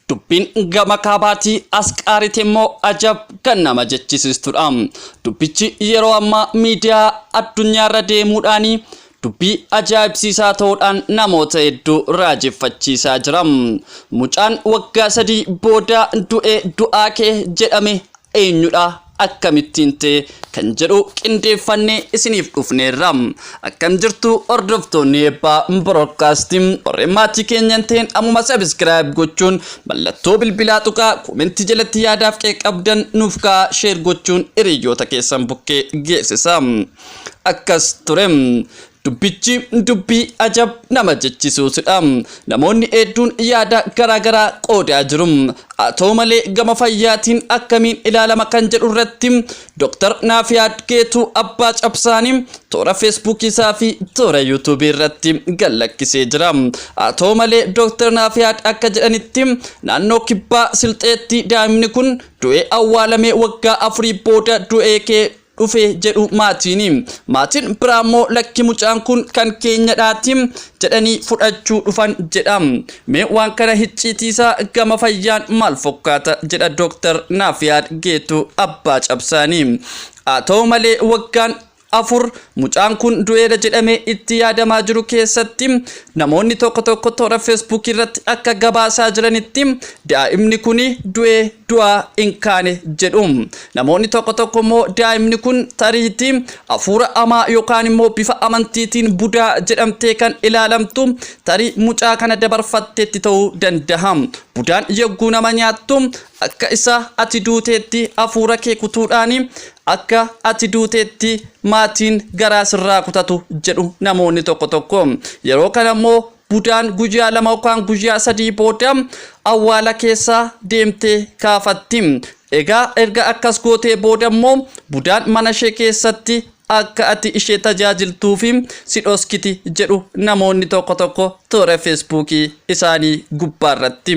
Dubbiin gama kaabaatii as qaarite immoo ajab kan nama jechisiistudha. Dubbichi yeroo ammaa miidiyaa addunyaarra deemuudhaan dubbii ajaa'ibsiisaa ta'uudhaan namoota hedduu raajeffachiisaa jira. Mucaan waggaa sadii booda du'e du'aa kee jedhame eenyudha akkamittiin ta'e kan jedhu qindeeffannee isiniif dhufneerra. Akkam jirtu hordoftoonni eebbaa broadcast warreen maatii keenya hin ta'in ammuma subscribe gochuun mallattoo bilbilaa tuqaa koomentii jalatti yaadaaf qeeqa qabdan nuuf kaa'aa sheer gochuun hiriyoota keessan bukkee geessisa. Akkas ture Dubbichi dubbii ajab nama jechisuusudha. Namoonni hedduun yaada garaa garaa qoodaa jiru. Haa ta'u malee gama fayyaatiin akkamiin ilaalama kan jedhu irratti Dr. Naafiyaad Geetuu Abbaa Cabsaanii toora Feesbuukii isaa fi toora Yuutuubii irratti gad lakkisee jira. Haa ta'u malee Dr. Naafiyaad akka jedhanitti naannoo kibbaa Silxeetti daa'imni kun du'ee awwaalamee waggaa afurii booda du'ee ka'e dhufe jedhu maatiini. Maatiin biraa immoo lakki mucaan kun kan keenyadhaati jedhanii fudhachuu dhufan jedha. Mee waan kana hicciitiisaa gama fayyaan maal fokkaata jedha Dooktar Naafiyaad Geetuu abbaa cabsaanii. Haa ta'u malee waggaan afur mucaan kun du'eera jedhamee itti yaadamaa jiru keessatti namoonni tokko tokko toora feesbuukii irratti akka gabaasaa jiranitti daa'imni kun du'ee du'aa hin kaane jedhu. Namoonni tokko tokko immoo daa'imni kun tariitii hafuura hamaa yookaan immoo bifa amantiitiin budaa jedhamtee kan ilaalamtu tarii mucaa kana dabarfatteetti ta'uu danda'a. Budaan yogguu nama nyaattu akka isa ati duuteetti hafuura kee kutuudhaan akka ati duuteetti maatiin garaa sirraa kutatu jedhu namoonni tokko tokko. Yeroo kana immoo Budaan guyyaa lama yookaan guyyaa sadii booda awwaala keessaa deemtee kaafatti. Egaa erga akkas gootee booda immoo budaan mana ishee keessatti akka ati ishee tajaajiltuu fi si dhoskiti jedhu namoonni tokko tokko toora feesbuukii isaanii gubbaa irratti.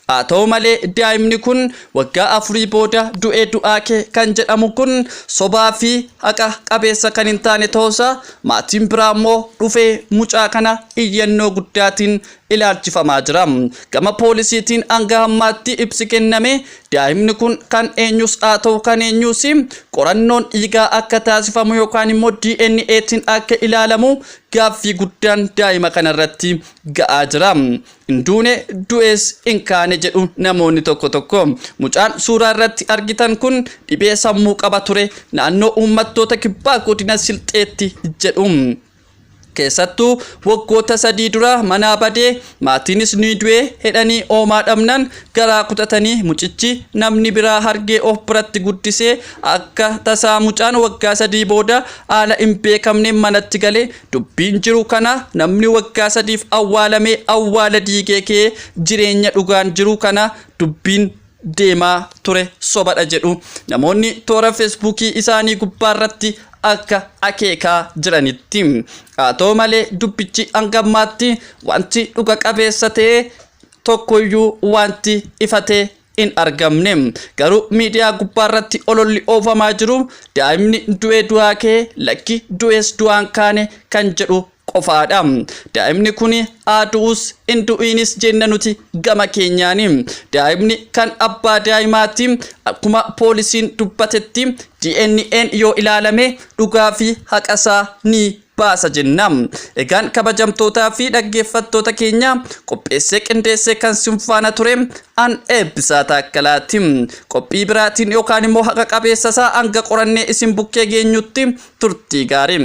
Haa ta'u malee daa'imni kun waggaa afurii booda du'ee du'aa kee kan jedhamu kun sobaa fi haqa qabeessa kan hin taane ta'uusaa Maatiin biraa ammoo dhufee mucaa kana iyyannoo guddaatiin ilaalchifamaa jira. Gama poolisiitiin hanga hammaatti ibsi kenname daa'imni kun kan eenyus haa ta'u kan eenyuus qorannoon dhiigaa akka taasifamu yookaan immoo DNAtiin akka ilaalamu gaaffii guddaan daa'ima kanarratti ga'aa jira. Hin duune, du'ees hin kaane jedhu namoonni tokko tokko. Mucaan suuraa irratti argitan kun dhibee sammuu qaba ture, naannoo uummattoota kibbaa godina Silxeetti jedhu. Keessattuu waggoota sadii dura manaa badee maatiinis ni du'e jedhanii oomaa dhabnan garaa kutatanii mucichi namni biraa hargee of biratti guddisee akka tasaa mucaan waggaa sadii booda haala hin beekamneen manatti gale Dubbiin jiru kana namni waggaa sadiif awwaalamee awwaala diigee ka'ee jireenya dhugaan jiru kana dubbiin deemaa ture sobadha jedhu namoonni toora feesbuukii isaanii gubbaarratti akka akeekaa jiranitti. Haa ta'u malee dubbichi hanga ammaatti wanti dhuga qabeessa ta'e tokkoyyuu wanti ifa ta'e hin argamne. Garuu miidiyaa gubbaarratti ololli oofamaa jiru daa'imni du'ee du'aa ka'e lakki du'ees du'aan kaane kan jedhu qofaadha. Daa'imni kun haa du'us hin du'iinis jenna nuti gama keenyaani. Daa'imni kan abbaa daa'imaati. Akkuma poolisiin dubbatetti DNA'n yoo ilaalame dhugaa fi haqasaa ni baasa jenna. Egaan kabajamtootaa fi dhaggeeffattoota keenya qopheessee qindeessee kan sin faana ture an eebbisaa taakkalaati. Qophii biraatiin yookaan immoo haqa qabeessa isaa hanga qorannee isin bukkee geenyutti turtii gaarii.